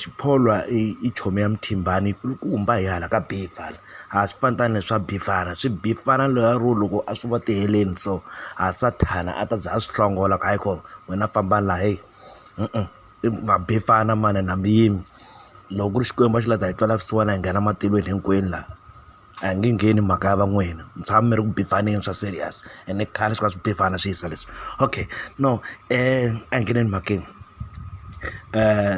Xipholwa i chomi ya Muthimbani yi kulukumba hi hala ka Bivhara a swi fani tani na swa Bivhara swi Bivhara loyi ro loko a swi vona ku tiheleni so ha Sathana a ta za a swi hlongola ku hayi ko wena famba la heyi i ma Bivhana manana mi yimi loko ku ri Xikwembu a xi la ku ta hi twela vusiwana hi nghena matilweni hinkwenu la. A hi nge ngheni mhaka ya va n'wina mi tshama mi ri ku beef-aneni swa serious ene i khale swi kha swi beef-ana swi hisa leswi okay no a hi ngheneni mhakeni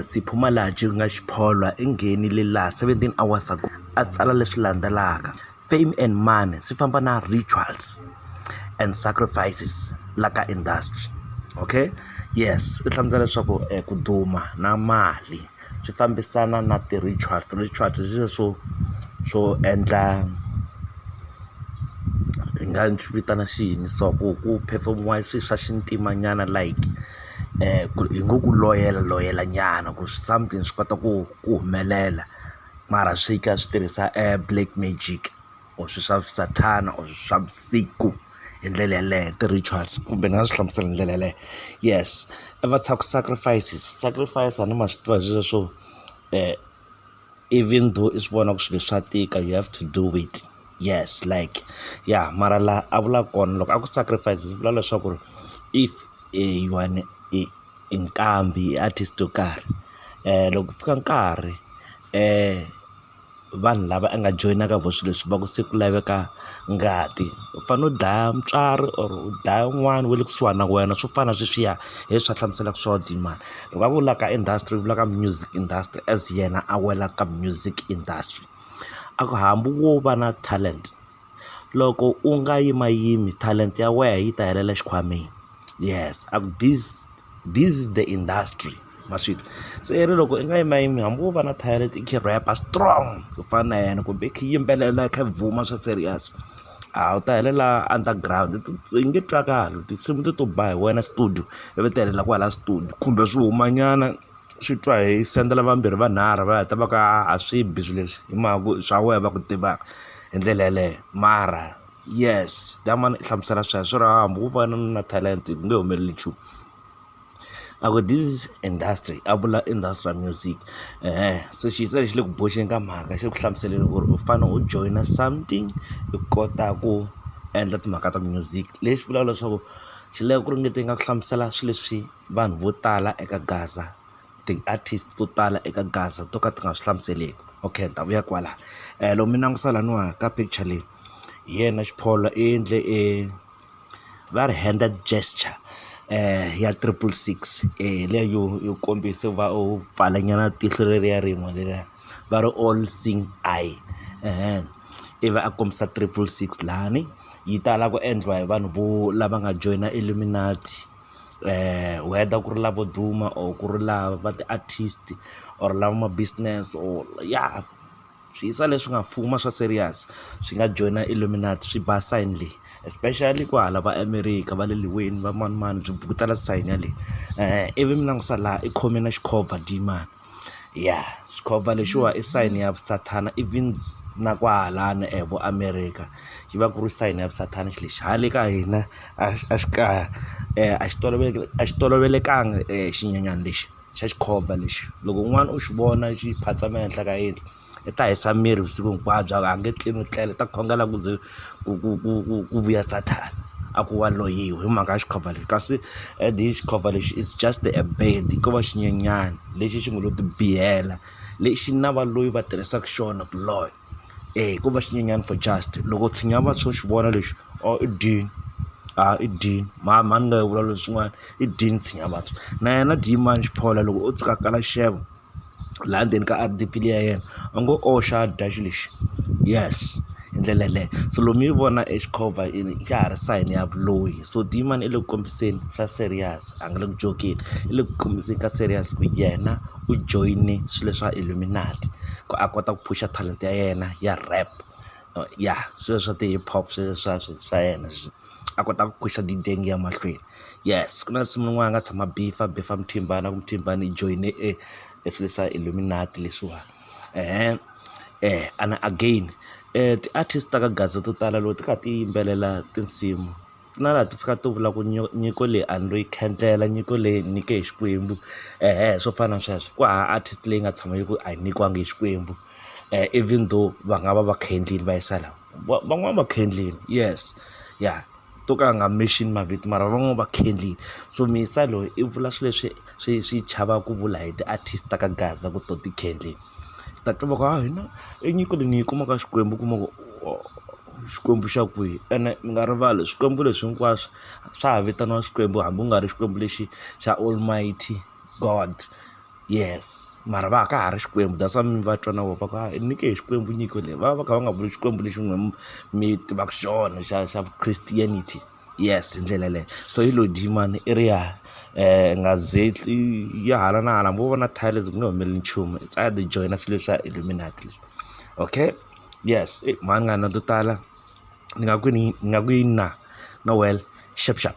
Sipho Malatji ku nga xipholwa i nghenile laha seventeen hours ago a tsala leswi landzelaka fame and money swi famba na rituals and sacrifices la ka industry okay yes u hlamusela leswaku ku duma na mali. swi fambisana na ti-rituals rituals hi swilo swo swo endla hi nga swi vitana xi yini so ku ku phefemiwa swilo swa xintima nyana like ku hi ngo ku loyela loyela nyana ku something swi kota ku ku humelela mara swi kha swi tirhisa black magic. or swilo swa sathana or swa vusiku hi ndlela yeleyo ti-rituals kumbe ni nga swi hlamusela hi ndlela yeleyo yes a va tshika ku sacrifices sacrifice a ni ma swi tiva hi swilo swo even though i swi vona ku swilo swa tika you have to do it yes like ya mara laha a vula kona loko a ku sacrifice swi vula leswaku ri if you are i nqambi i artist yo karhi loko ku fika nkarhi . vanhu lava a nga joyina ka vona swilo leswi va ku se ku laveka ngati u fanele u dlaya mutswari or u dlaya un'wana wa le kusuhani na wena swo fana na sweswiya hi leswi va hlamuselaka swona tin'wana loko a vulaka industry u vulaka music industry as yena a wela ka music industry a ku hambi wo va na talent. Loko u nga yimayimi talenta ya wena yi ta helela xikhwameni yes a ku this this is the industry ma swi twa se i ri loko i nga yimayimi hambi wo va na talenta i kha i rap-a strong ku fana na yena kumbe i kha i yimbelela i kha i bvuma swa serious a wu ta helela under ground i nge twakali tinsimu teto ba hi wena studio ivi ti helela kwala studio kumbe swi humanyana. swi twa hi sendela vambirhi vanharhu va heta va ku aa a swi bi swi leswi hi mhaka ku swa wehe va ku tivaka hi ndlela yeleyo mara yes tamani i hlamusela sweswo ra hambi wo va na na talent ku nge humeleli nchumu a ku this is industry a vula industrial music se xi se xi le ku boxeni ka mhaka xi ku hlamuseleni ku ri u fane u joyina something u kota ku endla timhaka ta music lexi vulaka leswaku xi lava ku ringeta yi nga ku hlamusela swi leswi. vanhu vo tala eka Gaza ti-artist to tala eka Gaza to ka ti nga swi hlamuseleki okay ni ta vuya kwala loko mi langusa laniwa ka picture leyi hi yena Xiphola i endle e va ri henda gesture ya triple six leya yo yo kombisa va u pfala nyana tihlo leriya rin'we leriya va ri all sing I i va a kombisa triple six lani yi tala ku endliwa hi vanhu vo lava nga joyina illuminati. whether ku ri lavo duma or ku ri lava va ti-artist or lava ma business or ya swi yisa leswi nga fuma swa serious swi nga joyina illuminate swi ba sign leyi especially ku hala va America va le liweni va manimani byi bukutela sign yaleyo ivi mi langusa laha i khome na xikhova dii mani. ya xikhova lexiwa i sign ya sathana even na kwahalano e vo America xi va ku ri sign ya sathana xilo lexi hale ka hina a xi a xi kaya a xi tolovele a xi tolovelekanga xinyanyani lexi xa xikhova lexi loko un'wana u xi vona xi phatsama ehenhla ka yindlu. i ta hisa miri vusiku hinkwabyo a nge tlilwi tlela i ta khongela ku ze ku ku ku ku ku vuya sathana a ku wa loyiwe hi mhaka ya xikhova lexi kasi and hi xikhova lexi is just a bad ko va xinyenyani lexi xi ngo lo ti biyela lexi na va loyi va tirhisaku xona ku loya e ko va xinyenyani for just loko tshinya va tsho xi vona lexi or i dini a i dini mhani mhani nga yi vula leswin'wana i dini tshinya vantshwa na yena diyimani xiphola loko o tshuka a kala xixevo. laha ndzeni ka R_D_P liya ya yena a ngo oxa dash lexi yes hi ndlela yaleyo so loko mi yi vona exikhova yini xa ha ri sign ya vuloyi so diyimani i le ku kombiseni swa serious a nga le ku jokeni i le ku kombiseni ka serious ku yena u joyine swilo leswa illuminate ku a kota ku phusha talenta ya yena ya rap ya swilo swa ti hip hop sweswiya swa yena . a kota ku khwaxa gideng yi ya mahlweni yes ku na nsimu wun'wana a nga tshama a bhifha a bhifha muthimbani a ku muthimbani i joyine e e swilo leswa illuminate leswiwa eeh and again ti-artist ta ka gaza to tala loko ti kha ti yimbelela tinsimu na laha ti fikaka ti vula ku nyiko leyi a ni lo yi khendlela nyiko leyi hi nyikiwe hi xikwembu eeh swo fana na sweswo ku hava artist leyi nga tshama yi ku a hi nyikiwangi hi xikwembu. even though va nga va va kha endlile va yisa la van'wani va kha endlile yes ya to ka a nga mention mavito mara van'wani va kha endlile so Muyisa loyi i vula swilo leswi swi swi chavaka ku vula hi ti-artist ta ka Gaza ku to ti kha endlile hi ta twa va ku ha hina i nyiko leyi ni yi kumaka ka Xikwembu u kuma ku Xikwembu xa kwihi ene mi nga rivali swikwembu leswi hinkwaswo swa ha vitaniwa swikwembu hambi ku nga ri xikwembu lexi xa almighty. God yes mara va ka ha ri xikwembu that's why mi va twa na voho va ku a hi nyike hi xikwembu nyiko leyi va va va kha va nga vuli xikwembu lexi n'wina mi mi tivaka xona xa xa christianity yes hi ndlela yeleyo so yi lo dyi mani i ri ya nga ze tli yi hala na hala hambi wo va na tiles ku nge humeleli nchumu it's either i joyina swilo leswi swa illuminate leswi okay yes i mhani ni nga na to tala ni nga ku ni ni nga ku yini na no well xap xap.